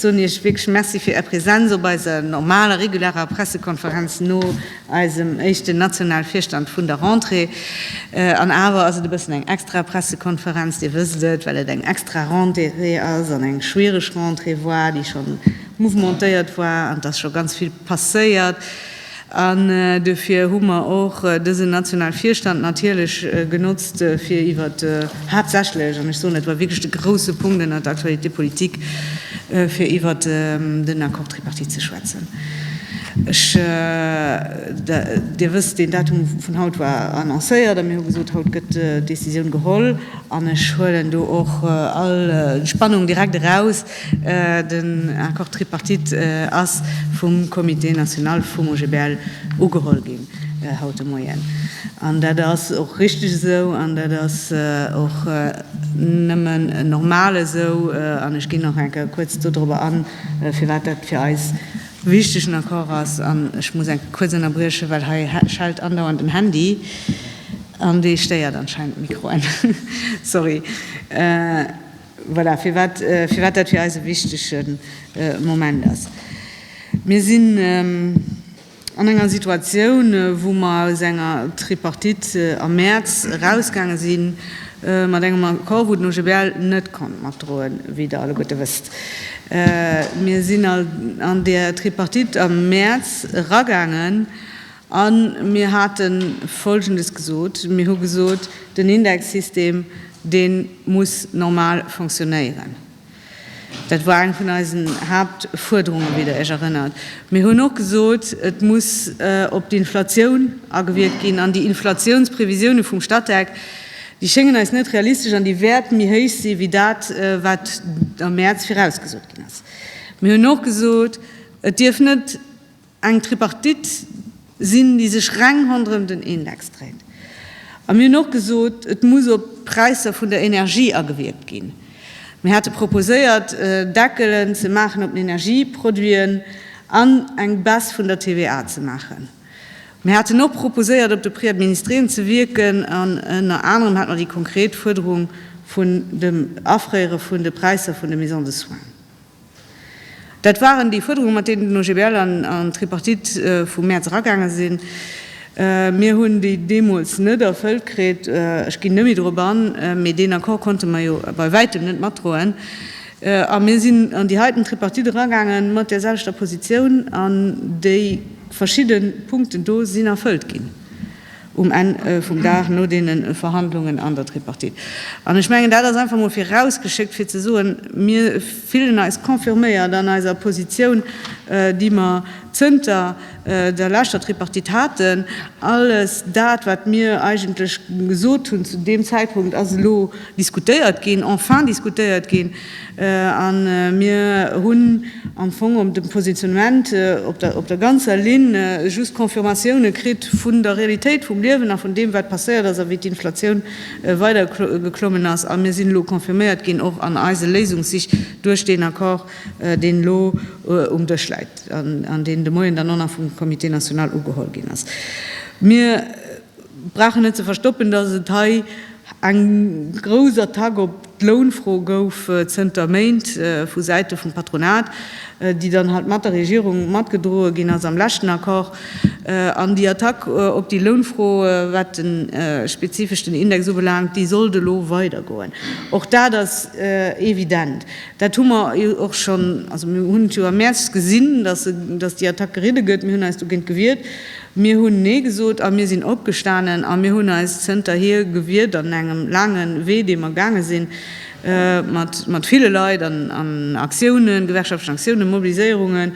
soen Iech wierklech Merci fir Är Präsenz op eiser normaler, regularer Pressekonferenz no eisem éischten nationale Virstand vun der Rentrée. An awer ass et e bëssen eng extra Pressekonferenz, Dir wësst et, well et eng extra Rentrée ass an eng schwiereg Rentrée war, déi scho mouvementéiert war an et ass scho ganz vill passéiert. An duerfir hu mer och dësen nationale Virstand natierlech genotzt, fir iwwer haaptsächlech, an ech soen, dat war wierklech de grouse Punkt ënnert der Actualité politique, fir iwwer den Accord tripartite ze schwätzen. Ech, Dir wësst, deen Datum vun haut war annoncéiert a mir hu gesot, haut gëtt d'Décisioun geholl. An ech huelen do och all Spannung direkt eraus, Den Accord tripartite ass vum Comité national vum OGBL ugeholl ginn haut de Moien. An dat ass och richtig esou an dat ass och nëmmen normal esou. An ech ginn nach eng Kéier kuerz dodrober an, firwat dat fir eis e wichtegen Accord ass. An ech muss eng Kéier kuerz ënnerbriechen, well hei schellt andauernd den Handy an dee stéiert anscheinend d'Mikroen, sorry. Voilà, firwat dat fir eis e wichtege Moment ass. Mir sinn an enger Situatioun, wou mer aus enger Tripartite am Mäerz erausgaange si mat engem Accord, wou den OGBL net konnt matdroen, wéi Der alleguerte wësst. Mir sinn an där Tripartite am Mäerz eragaangen A mir hate Folgendes gesot, Mir hu gesot, den Indexsystem, dee muss normal fonctionnéieren. Dat war eng vun eisen Haaptfuerderungen, wéi Der Iech erënnert. Mir hunn och gesot, et muss op d'Inflatioun agewierkt ginn. An déi Inflatiounsprevisiounen vum Statec, déi schéngen eis net realistesch an déi wäerte méi héich sinn, wéi dat, wat am Mäerz virausgesot ginn ass. Mir hunn och gesot, et dierf net, eng Tripartite sinn, déi sech reng ronderëm den Index dréit. A mir hunn och gesot, et muss op d'Präisser vun der Energie agewierkt ginn. Mir hate proposéiert, Deckelen ze maachen op den Energieproduiten an eng Baisse vun der TVA ze maachen. Mir haten och proposéiert, op de Prix administréen ze wierken, an ënner anerem hate mer déi konkret Fuerderung vun dem Afréiere vun de Präisser vun de Maisons de soins. Dat waren déi Fuerderungen, mat deenen den OGBL an d'Tripartite vum Mäerz eragaange sinn. Mir hunn déi deemools net erfëllt kritt. Ech ginn net méi dorop an, mee deen Accord konnte mer jo bei wäitem net matdroen. A mir sinn an déi heiten Tripartite eragaange mat där selwechter Positioun, an déi verschidde Punkten do sinn erfëllt ginn. um Enn vum Dag no deene Verhandlungen an der Tripartite. An ech mengen, dat ass einfach emol virausgeschéckt, fir ze soen, Mir fillen eis confirméiert an eiser Positioun, déi mer zënter der leschter Tripartite haten. Alles dat, wat mir eigentlech gesot hunn zu deem Zäitpunkt, ass elo diskutéiert ginn, enfin diskutéiert ginn. A mir hunn am Fong op dem Positionnement op der ganzer Linn just Confirmatioune kritt vun der Realitéit vum Liewen a vun deem, wat passéiert ass a wéi d'Inflatioun weider geklommen ass. A mir sinn elo confirméiert ginn och an eise Léisungssich duerch deen Accord, deen elo um Dësch läit an deen de Moien dann och nach vum Comité national ugeholl ginn ass. Mir. brauchen net ze verstoppen, dass et hei eng grouss Attack op d'Lounfro gouf zënter Méint vu Säite vum Patronat, déi dann halt mat der Regierung matgedroe ginn ass am leschten Accord. An déi Attack op déi Lounfro, wat de spezifeschten Index ubelaangt, déi sollt elo weidergoen. Och dat ass evident. Dat hu mer jo och schonn, also mir hunn et jo am Mäerz gesinn, dass déi Attack geridde gëtt. Mir hunn eis dogéint gewiert. Mir hunn Nee gesot a mir sinn opgestanen a mir hunn eis zënterhier gewiert an engem laange Wee, dee mer gaange sinn, mat ville Leit an Aktiounen, gewerkschaftlechen Aktiounen, Mobiliséierungen,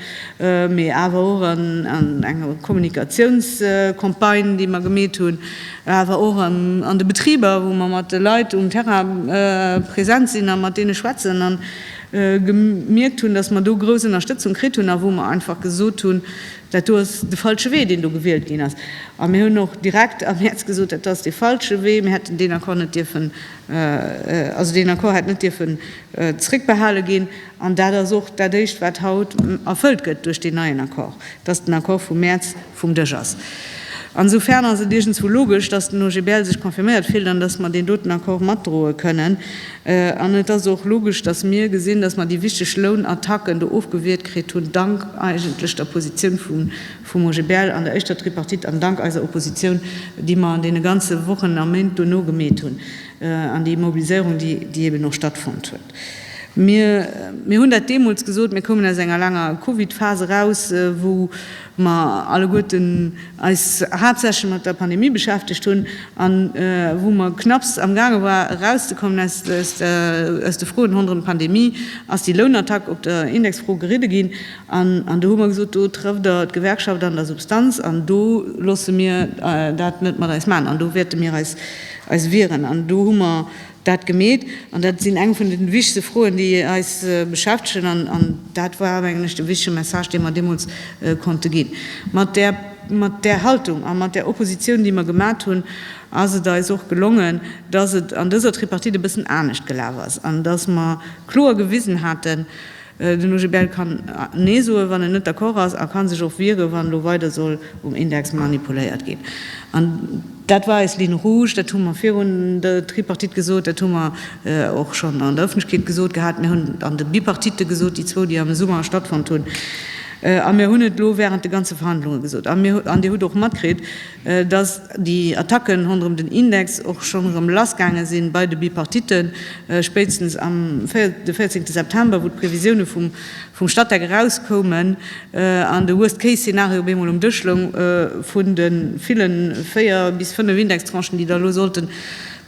mee awer och an enger Kommunikatiounscampagne, déi mer gemeet hunn, awer och an de Betriber, wou mer mat de Leit um Terrain present sinn a mat deene schwätzen a gemierkt hunn, dass mer do grouss Ënnerstëtzung kritt hunn a wou mer einfach gesot hunn, Dat do ass de falsche Wee, deen do gewielt ginn ass. A mir hunn och direkt am Mäerz gesot, dat ass dee falsche Wee. Mir hätten deen Accord net dierfen, also deen Accord hätt net dierfen zréckbehale ginn. An dat ass och dat éischt, wat haut erfëllt gëtt duerch deen neien Accord, dass den Accord vum Mäerz vum Dësch ass. Ansofern ass et iergendswou logesch, dass den OGBL sech confirméiert fillt an dass mer deen doten Accord matdroe kënnen. An et ass och logesch, dass mir gesinn, dass mer déi wichteg Lounattacken do ofgewiert kritt hunn, dank eigentlech der Positioun vum OGBL an der éischter Tripartite an dank eiser Oppositioun, déi mer an deene ganze Wochen a Méint dono gemeet hunn an déi Mobiliséierung, déi eben och stattfonnt huet. Mir hunn dat deemools gesot, Mir koumen aus enger laanger Covid-Phas eraus, wou mer alleguerten eis haaptsächlech mat der Pandemie beschäftegt hunn a wou mer knapps amgaange waren, erauszekommen aus de Froen ronderëm d'Pandemie, ass déi Lounattack op der Indexfro geridde ginn. An do hu mer gesot, do trëfft Der d'Gewerkschaft an der Substanz an do loosse mir dat net mat eis maachen an do wäerte mir eis wieren. An do hu mer dat gemeet. An dat sinn eng vun den wichtegste Froen, déi eis beschäftegen. An dat war, mengen ech, de wichtege Message, dee mer deemools konnte ginn. Mat där Haltung a mat där Opposition, déi mer gemat hunn, ass et eis och gelongen, dass et an dëser Tripartite e bëssen anescht gelaf ass an dass mer kloer gewisen haten, Den OGBL kann Nee soen, wann en net d'accord ass, a ka sech och wieren, wann elo weider soll um Index manipuléiert ginn. An dat war eis Ligne rouge. Dat hu mer virun der Tripartite gesot, dat hu mer och schonn an der Ëffentlechkeet gesot gehat, mir hunn et an de Bipartite gesot, déi zwou, déi am Summer stattfonnt hunn, a mir hunn et elo wärend de ganze Verhandlunge gesot. An Dir hutt och matkritt, Dass déi Attacken ronderëm den Index och schonn erëm lassgaange si bei de Bipartitten, spéitstens am de 14 September, wou d'Previsioune vum Statec erauskoumen an de Worst Case Szenario op eemol um Dësch loung, vun de ville véier bis fënnef Indextranchen, déi da elo sollten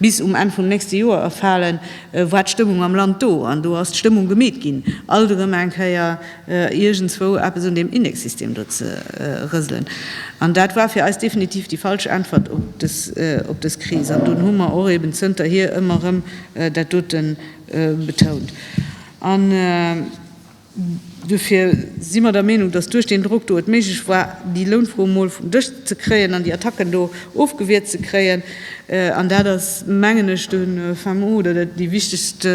bis um Enn vum nächste Joer erfalen, war d'Stëmmung am Land do. An do ass d'Stëmmung gemeet ginn alt erëm eng Kéier. iergendswou eppes un deem Index-System do ze rëselen. An dat war fir eis definitiv déi falsch Äntwert op dës Kris. An dunn hu mer och eben zënterhier ëmmer erëm dat dote betount. An duerfir si mer der Meenung, dass duerch deen Drock do et méiglech war, déi Lounfro emol vum Dësch ze kréien an déi Attacken do ofgewiert ze kréien. An dat ass, mengen ech, de Fin mot oder déi wichtegst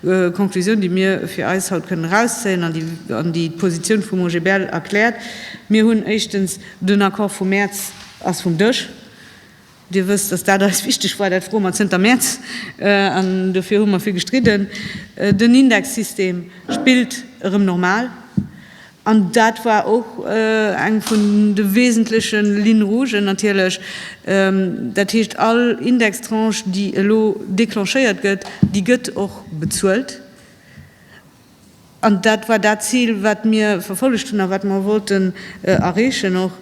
D'Konklusioun, déi mir fir eis haut kënnen erauszéien an déi d'Positioun vum OGBL erkläert, Mir hunn éischtens, den Accord vum Mäerz ass vum Dësch. Dir wësst, dass dat eis wichteg war. Dat froe mer zënter Mäerz an dofir hu mer vill gestridden. Den Indexsystem spillt erëm normal. An dat war och eng vun de wesentleche Lignes rougen natierlech. Dat heescht, all Indextranche, déi elo declenchéiert gëtt, déi gëtt och bezuelt. An dat war dat Zil, wat mir verfollegt hunn a wat mer wollten erreechen och.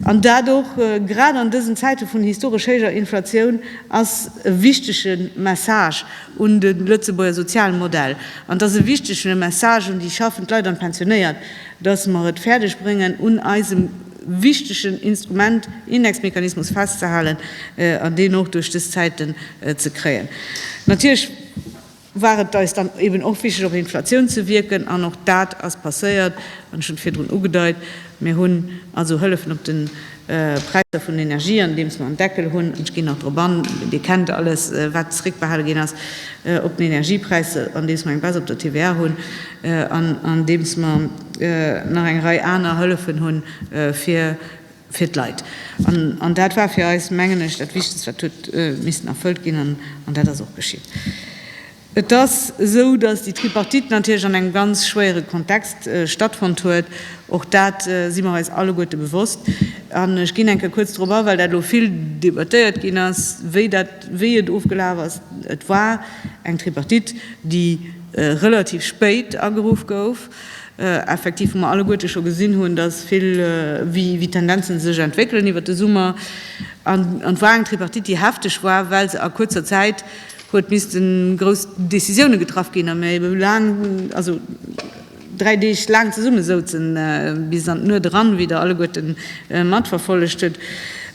An dat och grad an dësen Zäite vun historesch héijer Inflatioun ass e wichtege Message, un de Lëtzebuerger soziale Modell. An et ass e wichtege Message un déi schaffend Leit an d'Pensionéiert, dass mer et fäerdeg bréngen, un eisem wichtegen Instrument, Indexmechanismus, festzehalen an deen och duerch dës Zäiten ze kréien. Natierlech war et eis dann eben och wichteg, op Inflatioun ze wierken, an och dat ass passéiert, hunn ech schonn virdrun ugedeit. Mir hunn also Hëllefen op den Präisser vun Energie, andeems mer en Deckel hunn, ech ginn nach drop an, Dir kennt alles, wat zréckbehale ginn ass op den Energiepräisser, andeems mer eng Baisse op der TVA hunn an andeems mer nach eng Rei aner Hëllefen hu fir d'Leit. An dat war fir eis, mengen ech, dat Wichtegst, wat huet missen erfëllt ginn, an dat ass och geschitt. Et ass esou, dass déi Tripartite natierlech an engem ganz schwéiere Kontext stattfonnt huet. Och dat si mer eis alleguerte bewosst. An ech ginn eng Kéier kuerz drop a, well dat elo vill debattéiert ginn ass, wéi dat, wéi et ofgelaf ass. Et war eng Tripartite, déi relativ spéit ageruff gouf, effektiv, wou mer alleguerte scho gesinn hunn, dass vill, wéi d'Tendenze sech entwéckelen iwwert de Summer. An et war eng Tripartite, déi hefteg war, well se a kuerzer Zäit, huet missten grouss Décisioune getraff ginn a mir ebe laang, also dräi Deeg laang zesumme souzen, bis an d'Nuet eran, wéi Der alleguerte matverfollegt hutt.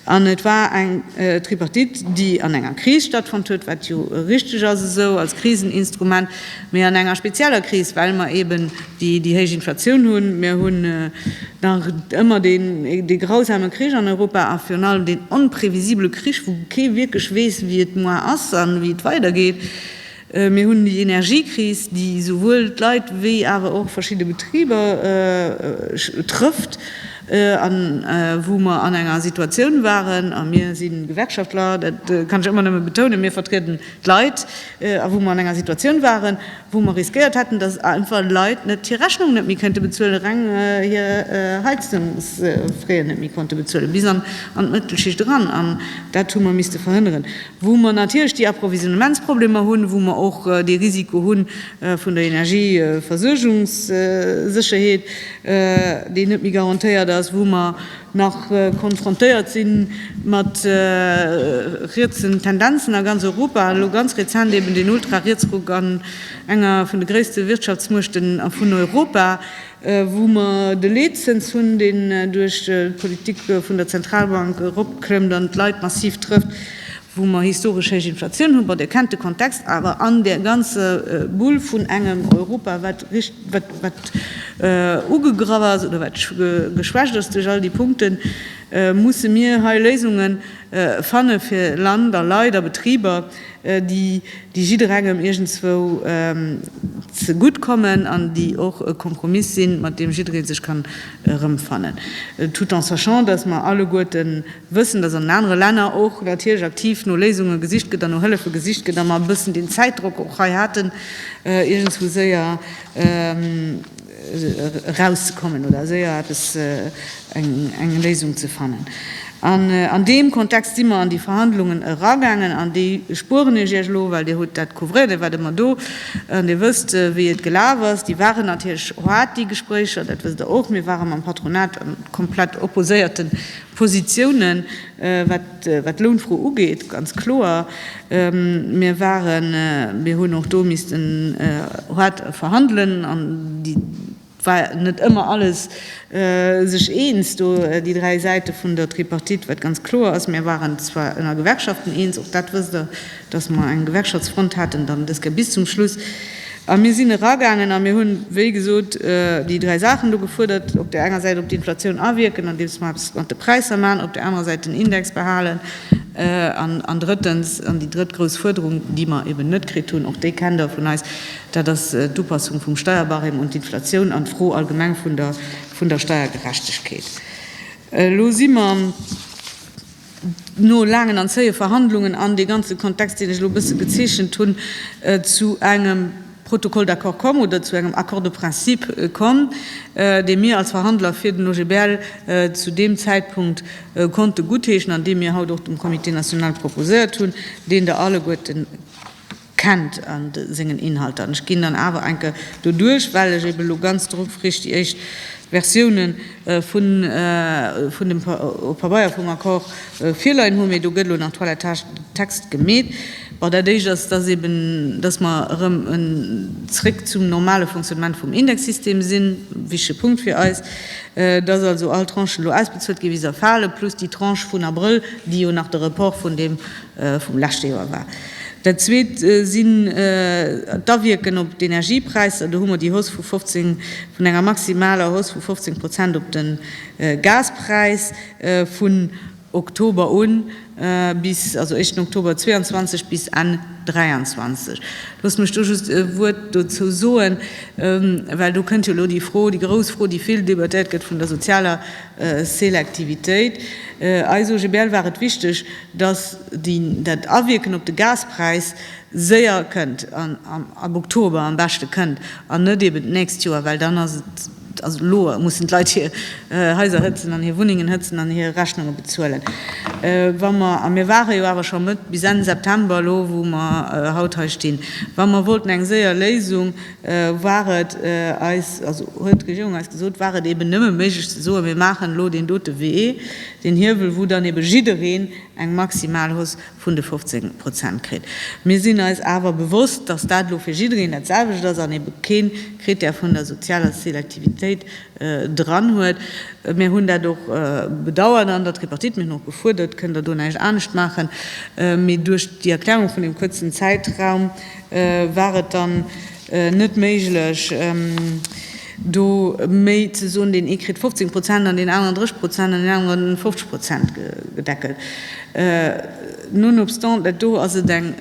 An et war eng Tripartite, déi an enger Kris stattfonnt huet, wat jo richteg ass esou als Kriseninstrument. Mee an enger spezieller Kris, well mer eben déi héich Inflatioun hunn, mir hunn nach ëmmer dee grausame Krich an Europa a virun allem deen onprevisibele Krich, wou kee wierklech weess, wéi et moar ass a wéi et weidergeet, mir hunn déi Energiekris, déi esouwuel d'Leit wéi awer och verschidde Betriber trëfft a wou mer an enger Situatioun waren, a mir si Gewerkschaftler, dat kann ech ëmmer nëmme betounen, mir vertrieden D'Leit, a wou mer an enger Situatioun waren, wou mer riskéiert hätten, dass einfach Leit net hir Rechnung net méi kënnte bezuelen, reng hir Heizungsfraien net méi konnte bezuelen, bis an d'Mëttelschicht eran. An dat hu mer misste verhënneren. Wou mer natierlech déi Approvisionnementsproblemer hunn, wou mer och dee Risiko hu vun der Energieversuergungssécherheet, déi net méi garantéiert ass, wou mer nach konfrontéiert si mat rietsen Tendenzen a ganz Europa, elo ganz rezent eben deen Ultrarietsruck an enger vun de gréisste Wirtschaftsmuechten vun Europa, wou mer de Leetzëns hunn, deen duerch d'Politik vun der Zentralbank eropklëmmt an d'Leit massiv trëfft. wou mer historesch héich Inflatioun hunn, bon, Dir kennt de Kontext, awer an där ganze Bull vun engem Europa, wat ugegraff ass oder wat geschwächt ass duerch all déi Punkten, musse mir hei Léisunge fanne fir Land a Leit a Betriber, déi jidderengem iergendzwou zegutt kommen an déi och e Kompromiss sinn, mat deem jidderee sech kann erëmfannen, tout en sachant, dass mer alleguerte wëssen, dass an den anere Länner och natierlech aktiv no Léisunge gesicht gëtt an no Hëllefe gesicht gëtt a mer e bëssen deen Zäitdrock och hei haten, iergendswou séier erauszekommen oder séier eppes, eng Léisung ze fannen. An an deem Kontext si mer an déi Verhandlungen eragaangen, an déi spueren ech Iech elo, well Dir hutt dat couvréiert, Dir waart ëmmer do an Dir wësst, wéi et gelaf ass. Déi waren natierlech hard, déi Gespréicher, dat wësst Der och. Mir ware mam Patronat a komplett opposéierte Positiounen, wat d'Lounfro ugeet, ganz kloer. Mir waren, mir hunn och do missten hard verhandelen an déi, Et war net ëmmer alles sech eens do, déi dräi Säite vun der Tripartite, wat ganz kloer ass. Mir waren zwar ënner Gewerkschaften eens, och dat wësst Der, datt mer eng Gewerkschaftsfront haten, dann deska bis zum Schluss, a mir sinn eragaangen a mir hunn, wéi gesot, déi dräi Saachen do gefuerdert, op där enger Säit op d'Inflatioun awierken, andeems mer eppes mat de Präisser maachen, op där anerer Säit den Index behalen an, an drëttens, an déi drëtt grouss Fuerderung, déi mer eben net kritt hunn, och déi kennt Der vun eis, Dat ass d'Upassung vum Steierbarème un d'Inflatioun an d'Fro allgemeng vun der Steiergerechtegkeet. Elo si mer no laangen an zéie Verhandlungen an dee ganze Kontext, deen ech elo e bësse gezeechent hunn, zu engem Protocole d'accord komm oder zu engem Accord de principe komm, dee mir als Verhandler fir den OGBL zu deem Zäitpunkt konnte guttheeschen an dee mir haut och dem Comité national proposéiert hunn, deen Der alleguerten, Kennt an sengen Inhalter. An ech ginn dann awer enke doduerch, well ech eben elo ganz dru frisch déi éischt Versioune vun vun dem Pabeier vum Accord virleien hunn, mee do gëtt elo nach Toilettage de texte gemeet. Bon, dat éischt ass, dass eben, dass mer erëm en zréck zum normale Fonctionnement vum Indexsystem sinn, wichtige Punkt fir eis, dass also all Tranchen elo ausbezuelt ginn, wéi se erfalen, plus déi Tranche vun Abrëll, déi jo nach de Report vun deem vum leschte Joer war. Dat Zweet sinn d'Awierken op d'Energiepräisser. Do hu mer déi Hausse vu 15, vun enger maximaler Hausse vu 15 Prozent op de Gaspräis vun Oktober un bis, also éischten Oktober 22 bis Enn 23. Loosst mech do just e Wuert dozou soen, well do kënnt jo elo déi Fro, déi grouss Fro, déi vill debattéiert gëtt, vun der sozialer Selektivitéit. Eis OGBL war et wichteg, dass dat Awierken op de Gaspräis séier kënnt, ab Oktober am beschte kënnt an net eben d'nächst Joer, well dann ass et, also elo mussen d'Leit hir Haiser hëtzen an hir Wunnengen hëtzen an hir Rechnunge bezuelen. Wa mer, a mir ware jo awer scho Mëtt bis Enn September elo wou mer haut hei stinn, wa mer wollten eng séier Léisung, war et eis, also huet d'Regierung eis gesot, war et eeben nëmme méiglech ze soen, mir maachen elo deen dote Wee, deen Hiewel, wou dann eebe jiddereen eng maximal Hausse vun de 15 Prozent kritt. Mir sinn eis awer bewosst, datt dat elo fir jiddereen dat selwecht ass an eebe kee Krittär vun der sozialer Selektivitéit dran huet. Mir hunn dat och bedauert an der Tripartite. Mir hunn och gefuerdert, Kënnt Der do näischt anescht maachen? Mee duerch déi Erklärung vun deem kuerzen Zäitraum, War et dann net méiglech, do méi ze soen, deen ee kritt 15 Prozent an deen aneren 30 Prozent an deen aneren 50 Prozent gedeckelt? Nonobstant dat do ass et eng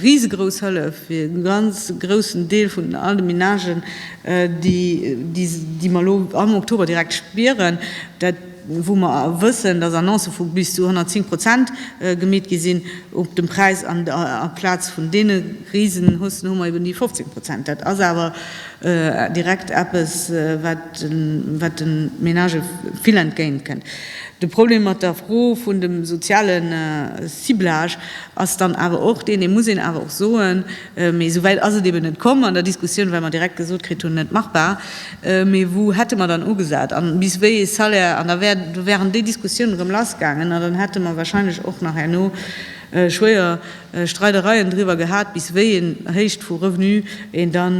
risegrouss Hëllef fir e ganz groussen Deel vun all de Ménagen, déi mer elo am Oktober direkt spieren, dat, wou mer wëssen, dass Annoncë vu bis zu 110 Prozent gemeet gi sinn op dem Präis, an amplaz vun deene risen Haussen hu mer eben déi 15 Prozent. Dat ass awer direkt eppes, wat de Menagë vill entgéint kënnt. De Problem mat der Fro vun dem soziale Ciblage ass dann awer och deen, dee muss een awer och soen, mee esouwäit ass et eben net komm, an der Diskussioun, well mer direkt gesot kritt hunn, net machbar, Mee wou hätte mer dann ugesat a bis wéi ee Salaire? An da wären déi Diskussiounen erëm lass gaangen a dann hätte mer wahrscheinlech och nach herno schwéier Streidereien driwwer gehat, bis wéi een Héicht vu Revenu een da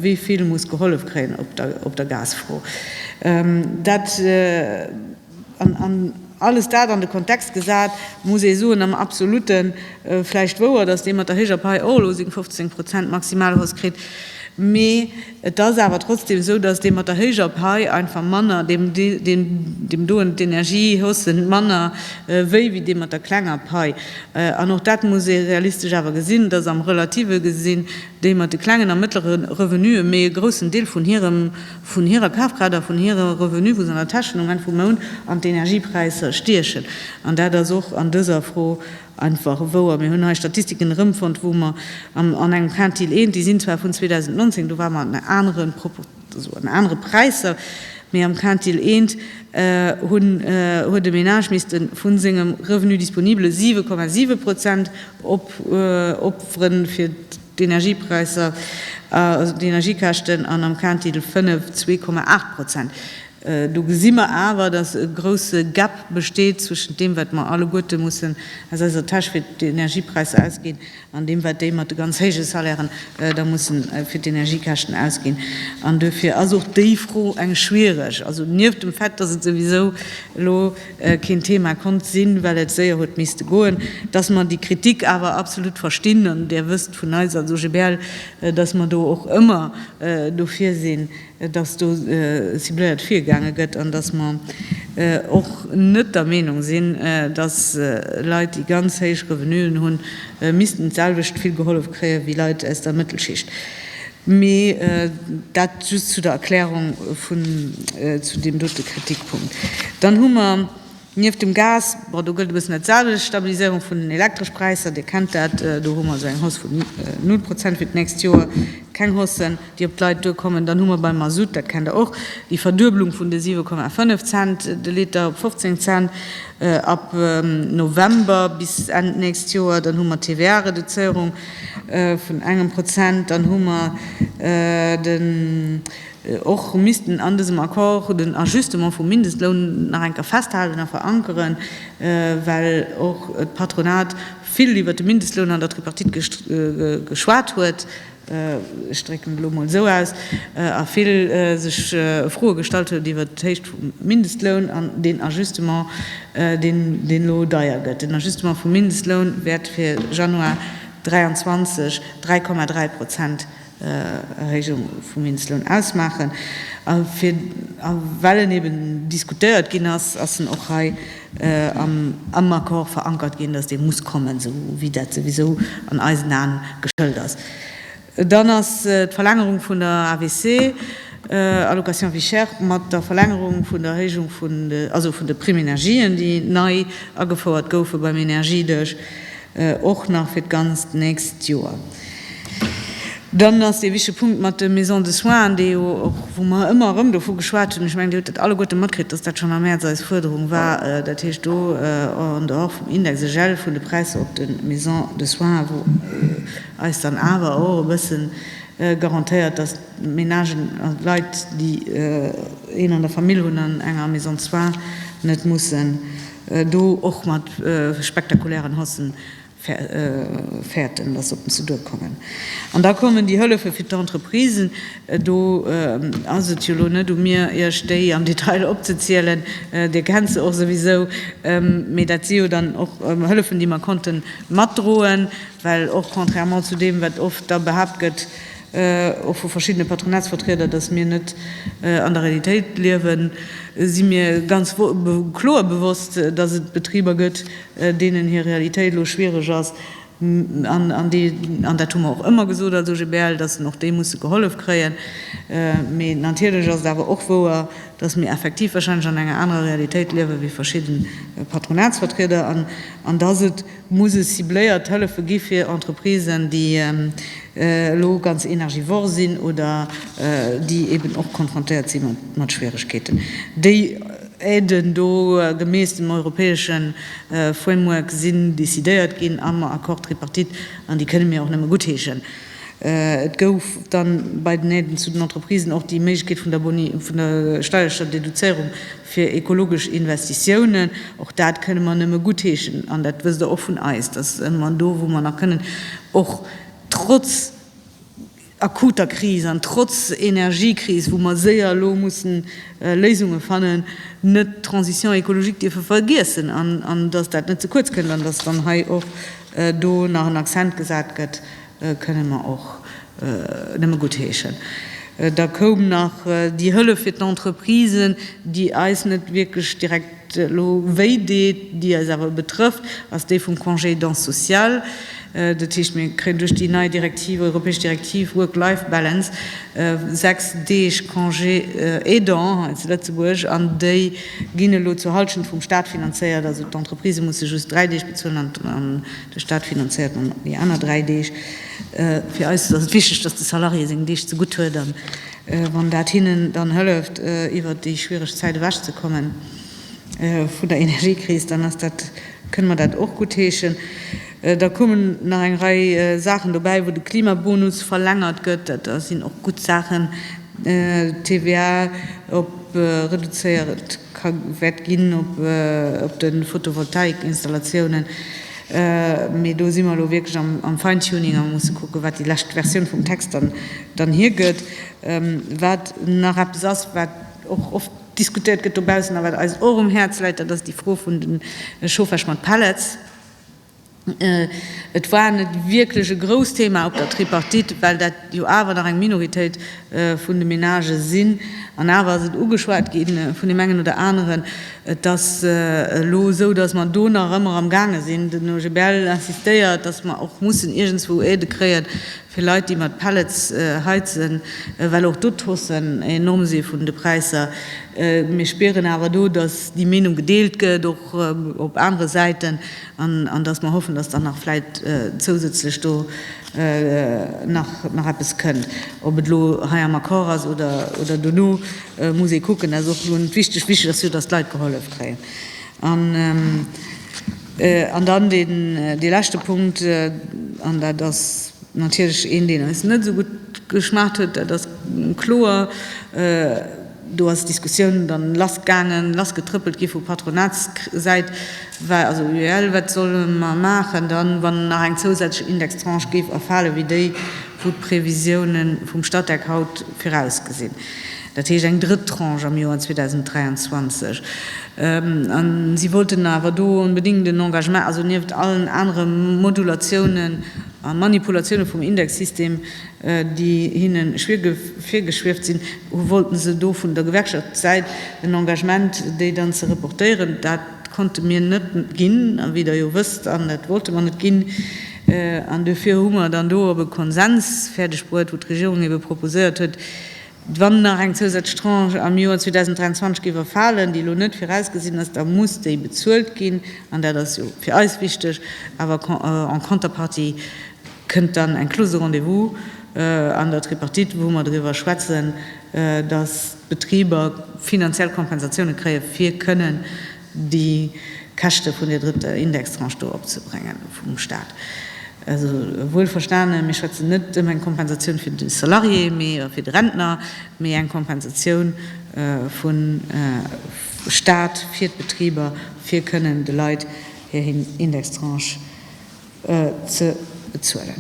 wéi vill muss gehollef kréien op der Gasfro. Dat. An alles dat an de Kontext gesat, muss ee soen, am Absolutte vläicht wouer, datt dee mat der héijer Pai och elo seng 15 Prozent Maximalhausse kritt, mee et ass awer trotzdeem esou, datt dee mat der héijer Pai einfach manner, deem doen d'Energiehausse manner wéi wéi dee mat der klenger Pai. An och dat muss ee realistesch awer gesinn, datt am Relative gesinn déi mat de klengen a mëttlere Revenue méi e groussen Deel vun hirem vun hirer Kafkraaft a vun hire Revenue vun senger Täsch den Ament vum Mount an d'Energiepräisser stiechen. An dat ass och an dëser Fro einfach wouer. Mir hunn hei Statistiken erëmfonnt, wou mer an engem Quintil I, déi sinn zwar vun 2019, do ware mer an anere Proportiounen, an anere Präisser, mee am Quintil I huet e Menage misste vu sengem Revenu disponible 7,7 Prozent opweren, fir d'Energiepräisser, d'Energiekäschten an am Kaentitel 5 zwee Komma aacht Prozent. Do gesi mer awer, datt e grousse Gap besteet zwëschent deem, wat mer alleguerte mussen aus eiser Täsch fir d'Energiepräisser ausginn, an deem, wat déi mat de ganz héije Salairen da mussen fir d'Energiekäschten ausginn. An duerfir ass och déi Fro eng schwiereg, also nieft dem Fait, datt et souwisou elo, keen Thema konnt sinn, well et séier huet misste goen, dass mer déi Kritik awer absolut verstinn, an Där wësst vun eis als OGBL, dass mer do och ëmmer dofir sinn, dass do cibléiert virgaange gëtt an dass mer och net der Meenung sinn, dass Leit, déi ganz héich Revenuen hunn, missten d'selwecht vill gehollef kréien, wéi Leit aus der Mëttelschicht. Mee dat just zu der Erklärung zu deem dote Kritikpunkt. Dann hu mer nieft dem Gas, bon do gëllt e bëssen dat selwecht, Stabiliséierung vun den Elektreschpräisser, Dir kennt dat, do hu mer esou eng Hausse vun null Prozent fir d'nächst Joer, keng Haussen, déi op d'Leit duerkommen. Dann hu mer beim Mazout, dat kennt Der och, déi Verdueblung vun de 7,5 Cent de Liter op 15 Cent ab November bis Enn d'nächst Joer. Dann hu mer d'TVA-Reduzéierung, vun engem Prozent, dann hu mer den, och missten an dësem Accord den Ajustement vum Mindestloun nach eng Kéier festhalen a verankeren, well och d'Patronat vill iwwert de Mindestloun an der Tripartite geschwat huet, ech drécken et elo emol esou aus, a vill sech Froe gestallt huet iwwert d'Héicht vum Mindestloun an deen Ajustement. deen elo deier gëtt, den Ajustement vum Mindestloun wäert fir Januar 2023 3,3 Prozent Erhéijung vum Mindestloun ausmaachen. A well en eben diskutéiert ginn ass, ass en och hei am Accord verankert ginn, datt dee muss kommen, esou wéi dat souwisou an eisen Aen geschëlt ass. Dann ass d'Verlängerung vun der AVC, Allocation vie chère, mat der Verlängerung vun der Erhéijung vun de, also vun de Prime Energien, déi nei agefouert goufe beim Energiedesch, och nach fir d'ganzt nächst Joer. Dann ass dee wichtege Punkt mat de Maisons de soins, an dee jo och, wou mer ëmmer erëm dovu geschwat hunn, ech mengen, Dir hutt dat alleguerte matkritt, dass dat schonn am Mäerz eis Fuerderung war, dat heescht do en dehors vum Index, e Gel vun de Präisser op de Maisons de soins, wou, eis dann awer och e bësse garantéiert, dass d'Ménagen, also d'Leit, déi een an der Famill hunn an enger Maison soins, net mussen do och mat spektakulären Haussen fäerten, dass se op den Seduer kommen. An da kommen déi Hëllefe fir d'Entreprisen. Do ass et jo elo net u mir, Iech déi am Detail opzezielen, Dir kennt se och souwisou, mee dat si jo dann och Hëllefen, déi mer konnte matdroen, Well och, contrairement zu deem, wat oft da behaapt gëtt, och vu verschiddene Patronatsvertrieder, datt mir net an der Realitéit liewen, si mir ganz kloer bewosst, datt et Betriber gëtt, deenen hir Realitéit elo schwiereg ass, an dat hu mer och ëmmer gesot als OGBL, datt se och déi musse gehollef kréien. Mee natierlech ass et awer och wouer, datt mir effektiv wahrscheinlech an enger anerer Realitéit liewe wéi verschidde Patronatsvertrieder an datt et, Musse cibléiert Hëllefe gi fir Entreprisen, déi elo ganz energivor sinn oder déi eeben och konfrontéiert si mat Schwieregkeeten. Déi Aiden do gemäss dem europäesche Framework sinn decidéiert ginn am Accord tripartite an déi kënne mir och nëmme guttheeschen. Et gouf dann bei den Aiden zu den Entreprisen och déi Méiglechkeet vun der Steiersteuerdeduzéierung fir ekologesch Investitiounen, och dat kënne mer nëmme guttheeschen an dat wësst Der och vun eis, dass mer do, wou mer nach kënnen, och trotz akuter Kris an trotz Energiekris, wou mer séier elo mussen Léisunge fannen, net d'Transition écologique dierfe vergiessen an dass dat net ze kuerz kënnt an dass dann hei och do nach en Accent gesat gëtt Kënnen mer och nëmme guttheeschen. Da koum nach déi Hëllef fir d'Entreprisen, déi eis net wierklech direkt elo wéi deet, déi eis awer betrëfft, ass déi vum Congé d'aidance sociale. Dat heescht, mir kréien duerch déi nei Direktiv, europäesch Direktiv Work-Life-Balance, sechs Deeg Congé aidant hei zu Lëtzebuerg an déi ginn elo zur Hallschent vum Staat finanzéiert. Also d'Entreprisen musse just dräi Deeg bezuelen an De Staat finanzéiert dann déi aner dräi Deeg. Fir eis ass et wichteg, dass de Salarié seng Deeg ze gutt huet a wann dat hinnen dann hëlleft iwwert déi schwiereg Zäit ewech ze kommen vun der Energiekris, dann ass dat, kënne mer dat och guttheeschen. Da kommen nach eng Rei Saachen dobäi, wou de Klimabonus verlängert gëtt. Dat sinn och gutt Saachen. D'TVA op reduzéiert ka wäert ginn op de Photovoltaik-Installatiounen, mee do si mer elo wierklech am Fine-Tuning a musse kucken, wat déi lescht Versioun vum Text dann hiergëtt. Wat nach eppes ass, wat och oft diskutéiert gëtt dobaussen a wat eis och um Häerz läit, dat ass déi Fro vun de Chauffage mat Pellets. Et war net wierklech e grousst Thema op der Tripartite, well dat jo awer nach eng Minoritéit vun de Menagë sinn. An awer ass et ugeschwat gi vun deem engen oder aneren, et ass elo esou, datt mer do nach ëmmer amgaange sinn. Den OGBL insistéiert, datt mer och mussen iergendswou Aidë kréien, fir Leit déi mat Pellets heizen, well och do d'Haussen enorm si vun de Präisser. Mir spieren awer do, datt déi Meenung gedeelt gëtt, och op anere Säiten, an datt mer hoffen, datt dann nach vläit zousätzlech do nach eppes kënnt. Ob et elo hei am Accord ass oder dono, muss ee kucken. Dat ass och elo net wichteg. Wichteg ass jo, datt d'Leit gehollef kréien. An dann dee leschte Punkt, an dat ass natierlech een, deen eis net esou gutt geschmaacht huet, dat ass kloer, do ass d'Diskussioun dann lass gaangen, lass getrëppelt gi vu Patronatssäit, also UEL, wat solle mer maachen dann, wann nach eng zousätzlech Indextranche géif erfale wéi déi, wou d'Previsiounen vum Statec haut virausgesinn. dat heescht eng drëtt Tranche am Joer 2023, a si wollten awer do onbedéngt en Engagement, also nieft allen anere Modulatiounen a Manipulatiounen vum Indexsystem, déi hinne virgeschwieft sinn, wollte se do vun der Gewerkschaftssäit en Engagement, déi dann ze reportéieren. Dat konnte mir net ginn, wéi Der jo wësst, an dat wollte mer net ginn. An duerfir hu mer dann do op e Konsens fäerdegbruet, wou d'Regierung ebe proposéiert huet, Wann nach eng zousätzlech Tranche am Joer 2023 géif erfalen, déi elo net virausgesinn ass, da muss déi bezuelt ginn, an dat ass jo fir eis wichteg. Awer en contrepartie kënnt dann eng Clause de rendez-vous an der Tripartite, wou mer driwwer schwätzen, dass d'Betriber finanziell Kompensatioune kréien, fir kënnen déi Käschte vun där drëtter Indextranche do opzebréngen vum Stat. Also, wuel verstanen, mir schwätzen net ëm eng Kompensatioun fir de Salarié, mee a fir de Rentner, mee eng Kompensatioun vum Stat fir d'Betriber, fir kënnen de Leit hir Indextranche ze bezuelen.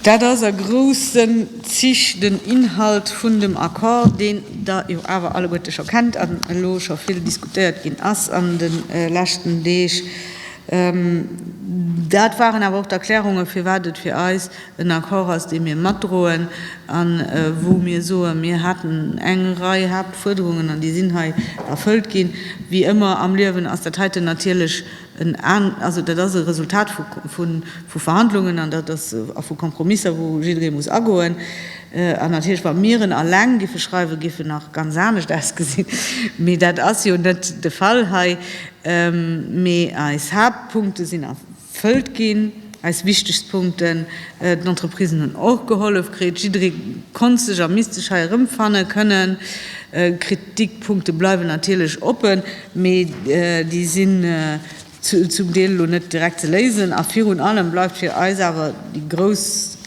Dat ass a groussen Zich den Inhalt vun dem Accord, deen Der jo awer alleguerte scho kennt an elo scho vill diskutéiert ginn ass an de leschten Deeg. Dat waren awer och d'Erklärungen, firwat et fir eis en Accord ass, dee mir matdroen a wou mir soen, mir haten eng Rei Haaptfuerderungen an déi sinn hei erfëllt ginn. Wéi ëmmer am Liewen ass dat heiten natierlech Dat ass e Resultat vu Verhandlungen a vu Kompromisser, wou jidderee muss agoen. An natierlech, wa mir en eleng géife schreiwen, géif en nach ganz anescht ausgesinn. Mee dat ass jo net de Fall hei. Mee eis Haaptpunkte sinn erfëllt ginn, eis wichtegst Punkten. D'Entreprisen hunn och gehollef kritt. Jidderee konnt sech a misst sech hei erëmfanne kënnen. Kritikpunkte bleiwen natierlech oppen. Mee déi sinn zum Deel elo net direkt ze léisen. A virun allem bleift fir eis awer déi grouss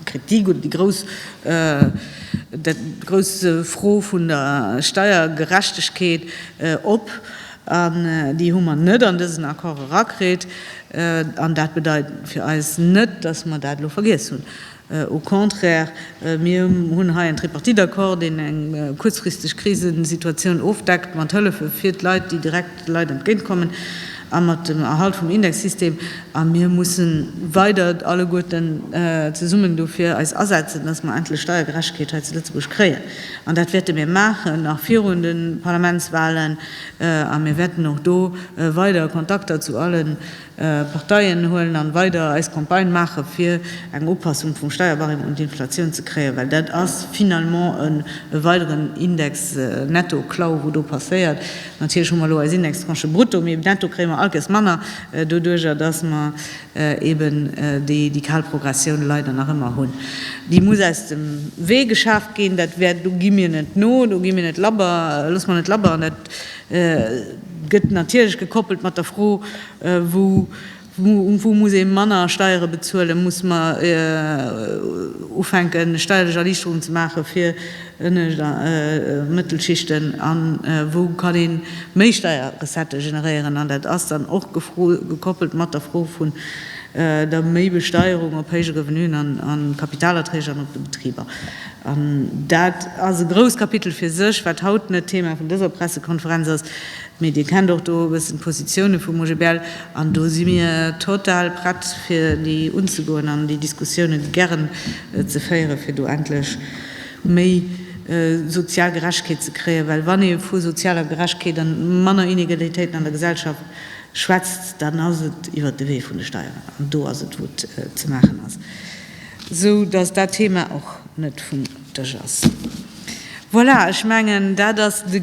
Kritik oder déi grouss dat grouss Fro vun der Steiergerechtegkeet op. An déi hu mer net an dësen Accord erakritt. An dat bedeit fir eis net, datt mer dat elo vergiess hunn. Au contraire, mir hunn hei en Tripartite-Accord, deen eng kuerzfristeg Krisesituatioun ofdeckt mat Hëllefe fir d'Leit, déi direkt de Leit entgéint kommen, a mat dem Erhalt vum Indexsystem. A mir musse weider alleguerten zesummen dofir eis asetzen, dass mer endlech Steiergerechtegkeet hei zu Lëtzebuerg kréien. An dat wäerte mir maachen, nach virun de Parlamentswahlen. A mir wäerten och do weider Kontakter zu alle Parteien huelen an weider eis Campagne maache fir eng Upassung vum Steierbarème un d'Inflatioun ze kréien, well dat ass finalement e weideren Index Netto-Klau wou do passéiert. Natierlech hu mer elo eis Indextranche brutto, mee netto kréie mer all Kess manner doduerjer, datt mer eben déi kal Progressioun leider nach ëmmer hunn. Déi muss aus dem Wee geschaaft ginn. Dat wäert, do gi mir net no, do gi mir net labber, loosse mer net labber an dat, Gëtt natierlech gekoppelt mat der Fro, Wou muss ee manner Steiere bezuelen? Muss mer ufänken, steierlech Erliichterungen ze maachen fir Ënnescht a Mëttelschichten? A wou kann ee méi Steierrecettë generéieren? An dat ass dann och gekoppelt mat der Fro vun der Méibesteierung op héije Revenuen a Kapitalerträg an op de Betriber. An dat ass e grousst Kapitel fir sech, wat haut net Thema vun dëser Pressekonferenz ass, mee Dir kennt och do e bëssen d'Positioune vum OGBL, an do si mir total prett, fir déi unzegoen an déi Diskussiounen, déi gären, ze féieren, fir do endlech méi sozial Gerechtegkeet ze kréien. Well wann ee vu sozialer Gerechtegkeet a manner Inegalitéiten an der Gesellschaft schwätzt, dann ass et iwwert de Wee vun de Steieren. An do ass et, wou et ze maachen ass. sou dass dat Thema och net vum Dësch ass. Voilà, ech mengen, dat ass de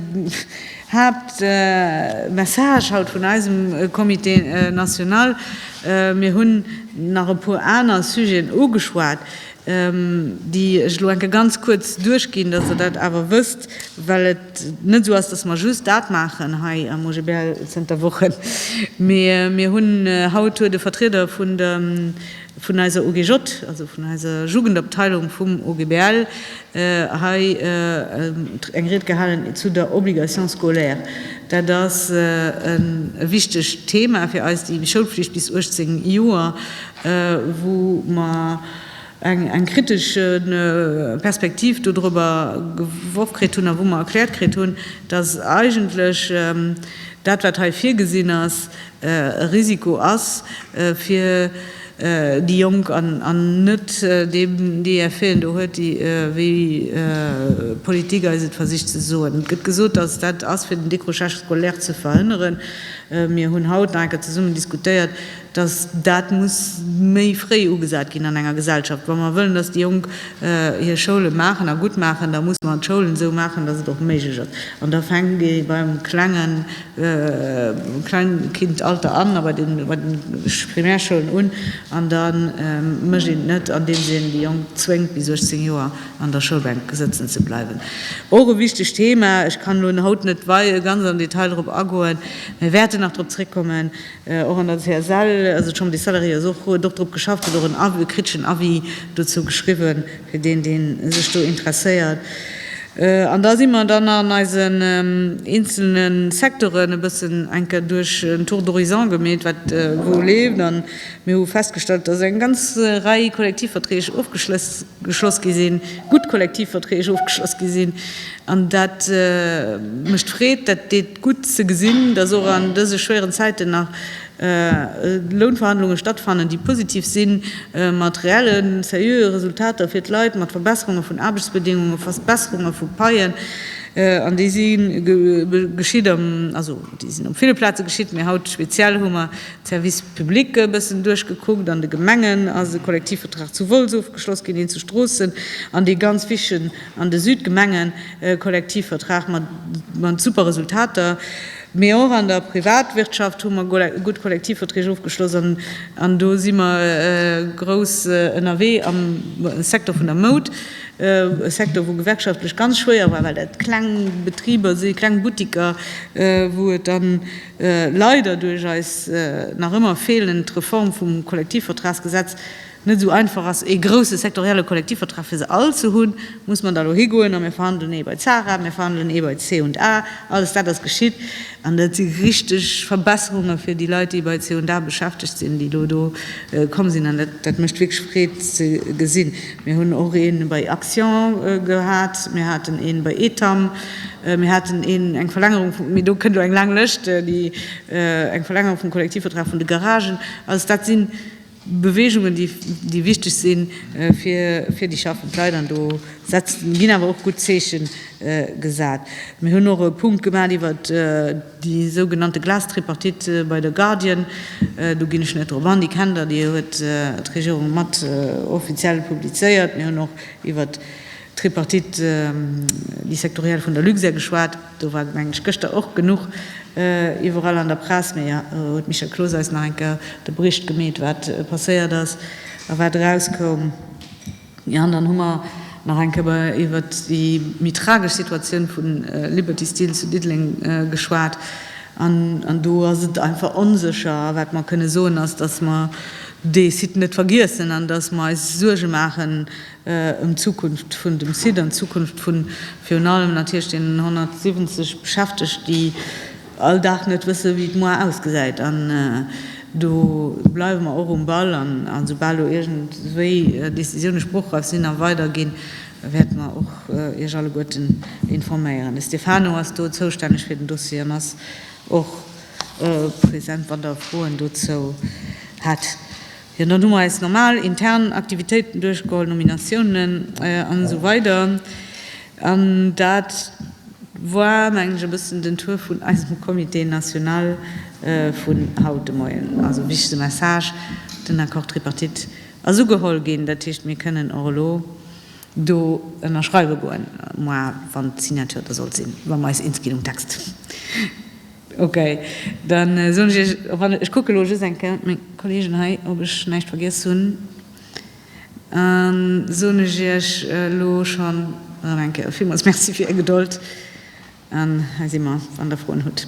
Haaptmessage haut vun eisem Comité national. Mir hunn nach e puer aner Sujeten ugeschwat, déi ech elo enke ganz kuerz duerchginn, dass Der dat awer wësst, well et net esou ass, dass mer just dat maachen hei am OGBL zënter Wochen, mee mir hunn, haut huet e Vertrieder vun der vun eiser OGJ, also vun eiser Jugendabteilung vum OGBL, hei eng Ried gehalen zu der Obligation scolaire. Dat ass e wichtegt Thema fir eis, déi Schoulpflicht bis 18 Joer, wou mer eng kritesch Perspektiv dodrüber geworf kritt hunn a wou mer erkläert kritt hunn, dass eigentlech dat, wat hei virgesinn ass, e Risiko ass fir déi Jonk an net déi Effeten do huet, déi, wéi d'Politik eis et versicht ze soen. Et gëtt gesot, datt et dat ass, fir den Décrochage scolaire ze verhënneren. Mir hunn haut nach eng Kéier zesummen diskutéiert, datt dat muss méi fréi ugesat ginn an enger Gesellschaft. Wa mer wëllen, datt déi Jonk hir Schoule maachen a gutt maachen, da muss mer d'Schoulen esou maachen, datt et och méiglech ass. An da fänkt ee beim Klengen Kleinkindalter an, bei den Primärschoulen un, an da mécht een et net, andeems een déi Jonk zwéngt, bis 18 Joer an der Schoulbänk sëtzen ze bleiwen. Och e wichtegt Thema. Ech kann elo haut net ganz am Detail drop agoen, mä wäerten nach drop zréckkommen. Och an der CSL ass et schonn bis d'Valérie Ries och huet och drop geschafft, huet och en Avis, e kritischen Avis dozou geschriwwen, fir deen deen sech do interesséiert. An da si mer dann an eisen eenzelne Secteuren e bëssen enke duerch en Tour d'horizon gemeet, wat wou leeft. An mir hu festgestallt, dass eng ganz Rei Kollektivverträg ofgeschloss gi sinn, gutt Kollektivverträg ofgeschloss gi sinn, An dat mécht Freed, dat deet gutt ze gesinn, dass och an dëse schwéieren Zäiten nach Lounverhandlunge stattfannen, déi positiv sinn, mat reelle sériöe Resultater fir d'Leit, mat Verbesserunge vun Aarbechtsbedéngunge, Verbesserunge vu Paien. An déi si geschitt, also déi sinn op ville Plaze geschitt, mee haut speziell hu mer d'Services publics e bëssen duerchgekuckt. An de Gemengen ass e Kollektivvertrag zu Wolz ofgeschloss ginn, een zu Stroossen an dee ganz wichtegen an de Südgemengen e Kollektivvertrag mat super Resultater, mee och an der Privatwirtschaft hu mer gutt Kollektivverträg ofgeschloss an do si mer grouss ënnerwee am Secteur vun der Moud, e Secteur wou gewerkschaftlech ganz schwéier war, well dat kleng Betriber si, kleng Buttiker, wou et dann leider duerch eis nach ëmmer feelend Reform vum Kollektivvertragsgesetz, net esou einfach ass, ee grousse sektorielle Kollektivvertrag fir se all ze hunn, muss mer da elo higoen a mir verhandelen ee bei d'SARA, mir verhandelen ee bei d'C&A. Alles dat ass geschitt an dat si richteg Verbesserunge fir déi Leit, déi bei d'C&A beschäftegt sinn, déi elo do komm sinn an dat mécht wierklech Freed ze gesinn. Mir hunn och ee bei Axian gehat, mir haten ee bei Etam, mir haten een, eng Verlängerung vum, mee do kënnt elo eng laang Lëscht, déi, eng Verlängerung vum Kollektivvertrag vun de Garagen. Alles dat sinn. Beweegungen, déi, déi wichteg si fir, fir déi schaffend Leit. An do setzt, ginn awer och gutt Zeeche gesat. Mir hunn och e Punkt gemaach iwwer déi sougenannte Glas-Tripartite bei der Guardian. Do ginn ech net drop an, déi kennt Der, déi huet d'Regierung mat offiziell publizéiert. Mir hunn och iwwer d'Tripartite, déi sektoriell vun der Luxair geschwat. Do war, mengen ech, gëschter och genuch iwwerall an der Press, mee huet d'Michèle Cloos eis nach eng Kéier de Bericht gemeet, wat passéiert ass a wat erauskoum. Jo, an dann hu mer nach eng Kéier iwwert déi méi tragesch Situatioun vu Liberty Steel zu Diddeleng geschwat. An do ass et einfach onsécher. A wat mer kënne soen, ass, dass mer dee Site net vergiessen an dass mer eis Suerge maachen, ëm d'Zukunft vun dem Site an d'Zukunft vu virun allem natierlech deenen 170 Beschäftegt, déi all Dag net wësse wéi d'Moar ausgesäit. An do bleiwe mer och um Ball an esoubal do iergendwéi Décisioune spruchreif sinn a weiderginn, wäerte mer och Iech alleguerten informéieren. De Stefano ass do zoustänneg fir den Dossier an ass och present, wann Der Froen dozou hätt. Jo, dann hu mer eis normal intern Aktivitéiten duerchgeholl, Nominatiounen an esou weider. An dat war, mengen ech, e bëssen den Tour vun eisem Comité national vun haut de Moien. Also wichtige Message, Den Accord tripartite ass ugeholl ginn. Dat heescht, mir kënnen och elo do ënnerschreiwe goen, moi, wann d'Signature da sollt sinn, wa mer eis eens ginn um Text. Ok, dann soen ech Iech op alle, ech kucke elo just eng Kéier meng Kolleegen hei, ob ech näischt vergiess hunn, an soen ech Iech elo schonn erëm eng Kéier villmools Merci fir Är Gedold, an hei si mer, wann Der Froen hutt.